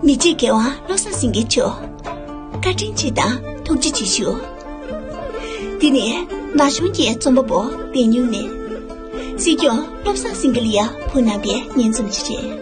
མི་འཇིགས་རྒྱལ་དབང་བློ་བཟང་སེང་གེ་མཆོག། བཀའ་དྲིན་ཆེ་དང་ཐུགས་རྗེ་ཆེ་ཞུ། འདི་ནི་ན་གཞོན་གྱི་རྩོམ་པ་པོ་བེ་སྨྱུང་ནས། སྲིད་སྐྱོང་བློ་བཟང་སེང་གེ་ལིའ་བུ་ནང་པའི་སྙན་རྩོམ་ཞིག་རེད།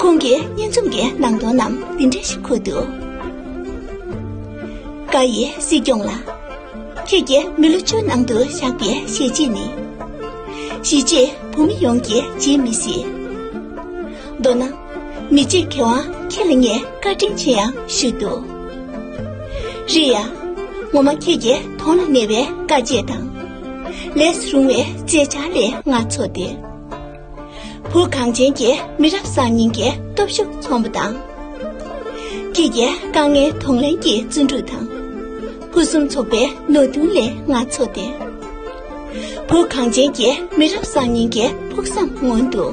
ཁོང་གི་སྙན་རྩོམ་གྱི་ནང་དོན་རྣམས་འདི་འདྲ་ཞིག་འཁོད་འདུག། བཀའ་ཡི་སྲིད་སྐྱོང་ལགས། ཁྱེད་ཀྱི་མི་ལོ་བཅུའི་ནང་དུ་བཞག་པའི་བཞེས་རྗེས་ནི། གཞིས་བྱེས་བོད་མི་ཡོངས་ཀྱིས་བརྗེད་མི་སྲིད། མདོར་ན་མི་གཅིག་གི་དབང་ཁྱེད་ལ་ངས་བཀའ་དྲིན་ཆེ་ཡང་ཞུས་འདུག། རེད་ཡ། ངོ་མ་ཁྱེད་ཀྱི་དོན་ལ་གནས་པའི་དཀའ་སྤྱད་དང། ལས་སུ་རུང་བའི་བརྩེ་བྱ་ལས་ང་ཚོ་སྟེ། བོད་གངས་ཅན་གྱི་མི་རབས་གསར་རྙིང་གི་སྟོབས་ཤུགས་མཚོན་པ་དང། ཁྱེད་ཀྱི་དཀའ་ངལ་དང་ལེན་གྱི་བརྩོན་འགྲུས་དང། ཕུན་སུམ་ཚོགས་པའི་ནོར་འདུན་ལས་ང་ཚོ་སྟེ། བོད་གངས་ཅན་གྱི་མི་རབས་གསར་རྙིང་གི་ཕུགས་བསམ་མངོན་འདུག།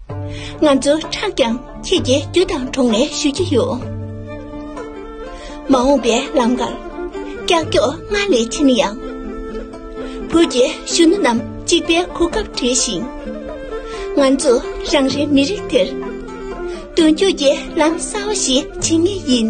ང་ཚོ་ཁྲག་ཀྱང་ཁྱེད་ཀྱི་རྒྱུ་དང་དྲུང་ནས་ཞུ་གི་ཡོད། མ་འོངས་པའི་ལམ་ཀར་ཀྱག་ཀྱོག་སྔར་ལས་ཆེ་ན་ཡང། བོད་ཀྱི་གཞོན་ནུ་རྣམས་གཅིག་པའི་གོ་སྐབས་བྲལ་ཞིང། ང་ཚོ་རང་རེའི་མི་རིགས་དེར། མདུན་སྐྱོད་ཀྱི་ལམ་གསར་བ་ཞིག་འབྱིན་ངེས་ཡིན།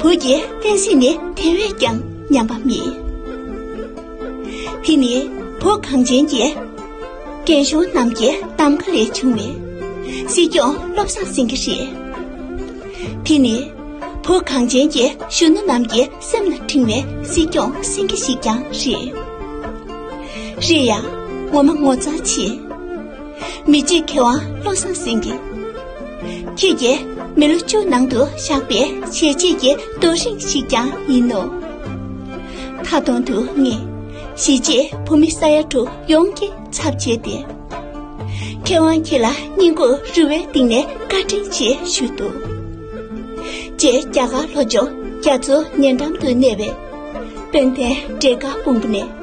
བུ་རྒྱལ་བསྟན་སྲིད་ནི་དེ་བས་ཀྱང་ཉམས་པ་མིན། དེ་ནི་བོད་གངས་ཅན་གྱི་རྒན་གཞོན་རྣམས་ཀྱི་གདམ་ག་ལས་བྱུང་བའི་སྲིད་སྐྱོང་བློ་བཟང་སེང་གེ་རེད། དེ་ནི་བོད་གངས་ཅན་གྱི་གཞོན་ནུ་རྣམས་ཀྱི་སེམས་ལ་འཁྲེང་བའི་སྲིད་སྐྱོང་སེང་གེ་ཞིག་ཀྱང་རེད། རེད་ཡ། ངོ་མ་ངོ་ཚ་ཆེ། མི་རྗེ་མཁས་དབང་བློ་བཟང་སེང་གེ། ཁྱེད་ཀྱིས་མི་ལོ་བཅུ་ནང་དུ་བཞག་པའི་བྱས་རྗེས་ཀྱི་རྡོ་རིང་ཞིག་ཀྱང་ཡིན་ནོ། མཐའ་སྟོང་དུ་ངས་གཞིས་བྱེས་བོད་མི་ས་ཡ་དྲུག་ཡོངས་ཀྱི་ཚབ་བྱས་ཏེ། མཁས་དབང་ཁྱེད་ལ་སྙིང་ཁུང་རུས་བའི་གཏིང་ནས་བཀའ་དྲིན་ཆེ་ཞུས་འདུག། རྗེ་རྒྱ་གར་ལྷོ་ལྗོངས་རྒྱ་མཚོ་ཉེ་འགྲམ་དུ་གནས་པའི་དཔལ་ལྡན་འབྲས་དཀར་དཔུང་པོ་ནས།